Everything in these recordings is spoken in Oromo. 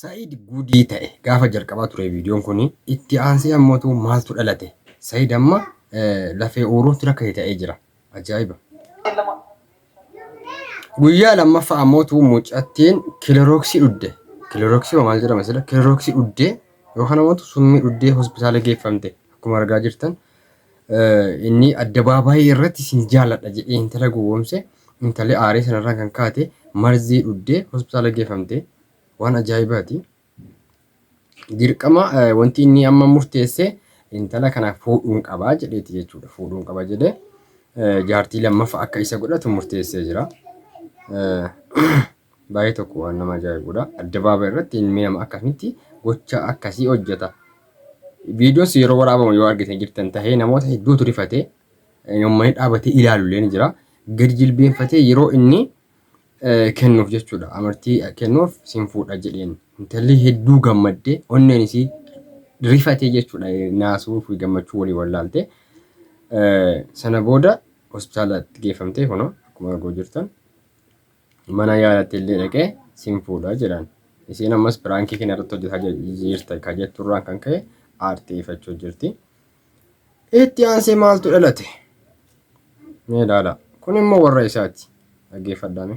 Sa'id gudii ta'e gaafa jalqabaa ture viidiyoon kun itti aansee ammotu maaltu dhalate Sa'id amma lafee uuruutti rakkate ta'ee jira ajaa'iba. Guyyaa lammaffaa ammotu mucattiin kilorooksii dhudde kilorooksii maal jedhama sila kilorooksii dhudde yookaan ammotu summii dhuddee hospitaala geeffamte akkuma argaa jirtan Inni addabaabaayii irratti sin jaaladha jedhee intala gowwoomse, intalli aaree sanarraan kan kaate marzii dhugdee hospitaala geeffamte. Waan ajaa'ibaati. Dirqama wanti inni amma murteesse intala kana fuudhuun qaba jedheeti jechuudha. Fuudhuun qaba jedhee jaartii lammaffaa akka isa godhatu murteessee jira. Baay'ee tokko waan nama ajaa'ibudha. Addabaabayi irratti hin miidhama akkamitti gocha akkasii hojjeta. Viidiyoos yeroo waraabamu yoo argitan jirtan tahee namoota hedduutu rifatee uummanni dhaabatee ilaalu illee ni jira. Gadi jilbeenfatee yeroo inni kennuuf jechuudha. Amartii kennuuf sin fuudha jedheen. Intalli hedduu gammaddee onneen isii rifatee jechuudha naasuu fi gammachuu walii wallaalte. Sana booda hospitaalatti geeffamtee kunoo akkuma arguu jirtan. mana yaalatti illee dhaqee sin fuudha jedhan. Isiin ammas piraankii kana irratti hojjetaa jirta ka jetturraan kan ka'e aarteeffachuu jirti. Itti aansee maaltu dhalate? Mee ilaala. Kun immoo warra isaati. Dhaggeeffadhaame.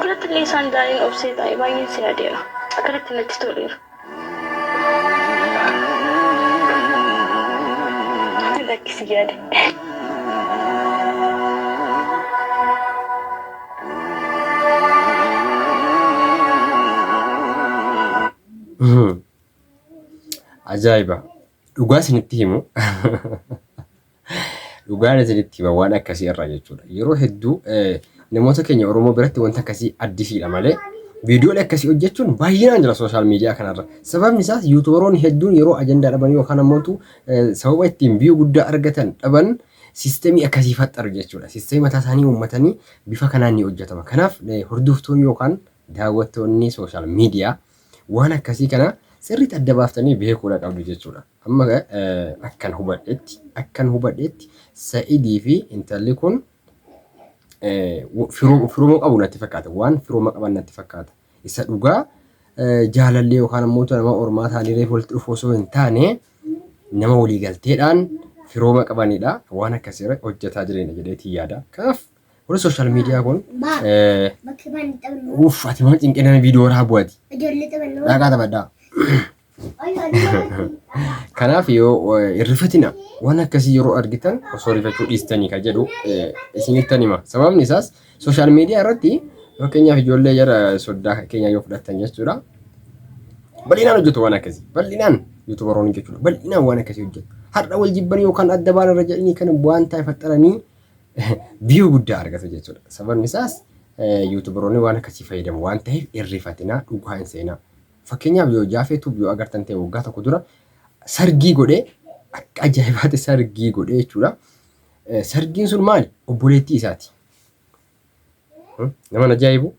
Birattillee isaan daaniin obsee taa'e baay'een si yaadeera. Akkanatti natti toleera. Lakki si yaade. Ajaa'iba! Dhugaa isinitti himu. Dhugaan isinitti hima waan akkasii irraa jechuudha. Yeroo hedduu namoota keenya Oromoo biratti wanta akkasii addisiidha malee viidiyoolee akkasii hojjechuun baay'inaan jira sooshaal miidiyaa kanarra. Sababni isaas yuutubaroonni hedduun yeroo ajandaa dhaban yookaan ammoo sababa ittiin viyuu guddaa argatan dhaban siistemii akkasii faxxaru jechuudha. Siistemii mataa isaanii uummatanii bifa kanaan ni hojjetama. Kanaaf hordoftoonni yookaan daawwattoonni sooshaal miidiyaa Waan akkasii kana sirriitti adda baaftanii beekuudha qabdu jechuudha. Amma akkan hubadhetti akkan hubadhetti Sa'idii fi intalli kun firooma qabu natti fakkaata. Waan firooma qaban natti fakkaata. Isa dhugaa jaalallee yookaan ammoo nama ormaa taanii reefu walitti dhufu osoo hin taane nama walii galteedhaan firooma qabanidha. Waan akkasii irratti hojjetaa jireenya jedheetii yaada. Kanaaf Kun social media kun uff ati mana cinqee nama viidiyoo irraa bu'ati. Dhaqaa taphadhaa. Kanaaf yoo irrifatina waan akkasii yeroo argitan osoo rifachuu dhiistanii kan jedhu isinittan hima. Sababni isaas social media irratti fakkeenyaaf ijoollee jara soddaa keenya yoo fudhattan jechuudha. Bal'inaan hojjetu waan akkasii. Bal'inaan yuutubaroonni jechuudha. Bal'inaan waan akkasii hojjetu. Har'a wal jibbanii yookaan adda baala irra jedhanii kan waan ta'e faxxaranii view guddaa argatu jechuudha. Sababni isaas yuutubaroonni waan akkasii fayyadamu waan ta'eef hin rifatinaa dhugaa hin seenaa. Fakkeenyaaf yoo jaafee tuub yoo agartan ta'e waggaa tokko dura sargii godhee akka ajaa'ibaatti sargii godhee jechuudha. Sargiin sun maali? Obboleettii isaati. Naman ajaa'ibu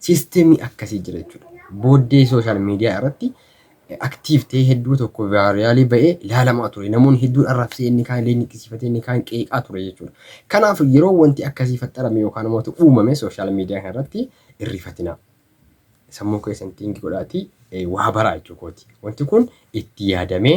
siistemii akkasii jira jechuudha. Booddee sooshaal miidiyaa irratti aktiiv ta'ee hedduu tokko vaariyaalii ba'ee ilaalamaa ture. Namoonni hedduun arrabsee inni kaan illee niqqisiifatee inni kaan qeeqaa ture jechuudha. Kanaaf yeroo wanti akkasii faxxarame yookaan immoo uumame sooshaal miidiyaa kana irratti irrifatinaa. Sammuu keessan xiingi godhaatii waa baraa jechuu kooti. Wanti kun itti yaadamee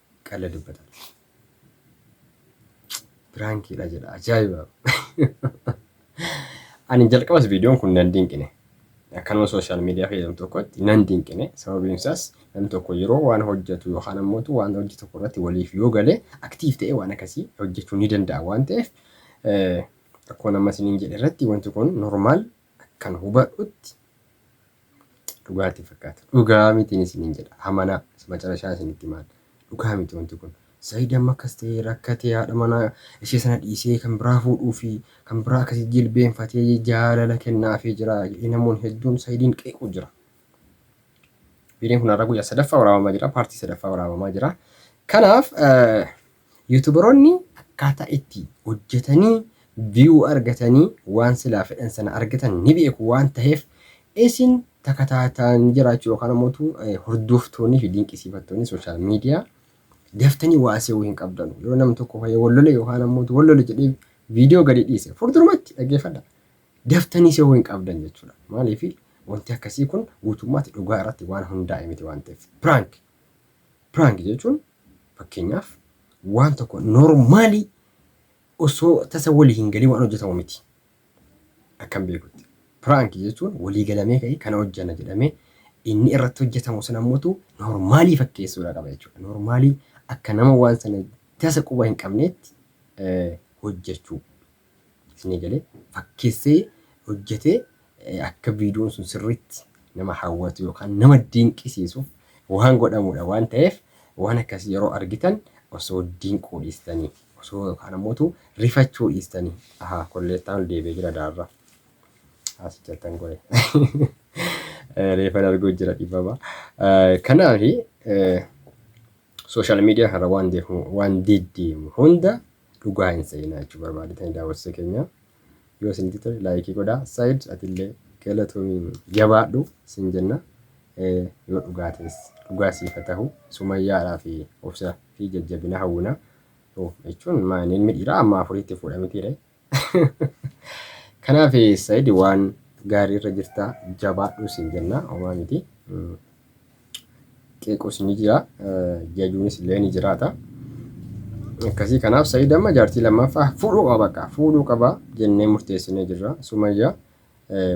qalla dubbatan piraankiidha jedha ajaa'iba ani jalqabas viidiyoon kun nan dinqine akkanuma sooshaal miidiyaa fayyadamu tokkotti nan dinqine sababiin isaas namni tokko yeroo waan hojjetu yookaan ammoo waan hojii tokko irratti waliif yoo galee aktiif ta'ee waan akkasii hojjechuu ni danda'a waan ta'eef akkuma nama isiniin jedhe irratti wanti kun normaal Akkan hubadhutti dhugaa itti fakkaata. Dhugaa mitiin isiniin jedha. Amanaa. Macarashaa isinitti himaan. Dhugaa miti wanti kun. Said amma akkas ta'ee rakkatee haadha manaa ishee sana dhiisee kan biraa fuudhuu fi kan biraa akkasii jilbeenfatee jaalala kennaafii jira jedhee namoonni hedduun Saidiin qeequu jira. Viidiyoon kun har'a guyyaa sadaffaa waraabamaa jira. Paartii sadaffaa waraabamaa jira. Kanaaf Yuutubaroonni akkaataa itti hojjetanii view argatanii waan silaa fedhan sana argatan ni beeku waan taheef isin takataatani jiraachuu yookaan ammoo tu hordooftoonni fi dinqisiifattoonni social media daftanii waa se'uu hin qabdanu. Yoo nam tokko fayya wal lole yookaan ammoo tu wal lole jedhee viidiyoo gadi dhiise furdurumatti dhaggeeffadha. Daftanii se'uu hin qabdan jechuudha. Maaliif wanti akkasii kun guutummaatti dhugaa irratti waan hundaa'e miti waan ta'eef. Prank. Prank jechuun Fakkeenyaaf, waan tokko normaalii osoo tasa walii hin galin waan hojjetamu miti. Akkan beekutti. Piraanki jechuun walii galamee ka'ee kana hojjenna jedhamee inni irratti hojjetamu sun ammotu normaalii fakkeessuudha qaba jechuudha. Normaalii akka nama waan sana tasa quba hin qabneetti hojjechuu. Isinii galee? Fakkeessee hojjetee akka viidiyoon sun sirriitti nama hawwatu yookaan nama dinqisiisuuf waan godhamuudha waan ta'eef waan akkasii yeroo argitan osoo dinquu dhiistanii osoo yookaan ammootu rifachuu dhiistanii ahaa kolleettaan ol deebi'ee jira daarra asi jettan gore reefan arguu jira dhibama kanaaf sooshaal miidiyaa kana waan deemu waan deddeemu hunda dhugaa hin se'inaa jechuu barbaadetanii daawwattoota keenya yoo isinitti tole laayikii godhaa saayid atillee galatoomii jabaadhu sin jenna Eh, yoo dhugaa ta'es dhugaa siif haa ta'u sumayyaadhaa fi obsa fi jajjabina hawwina Oh, jechuun maa inni ilmi dhiiraa amma afuriitti fuudha mitiire kanaaf eh, saayid waan gaarii irra jirta jabaadhu sin jenna homaa miti Mm. qeequs ni jira jajuunis illee ni jiraata. Akkasii kanaaf Sa'iid amma jaartii lammaffaa fuudhuu qaba bakka fuudhuu qaba jennee murteessinee jirra. Sumayyaa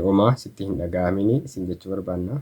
homaa sitti hin dhaga'amini isin jechuu barbaanna.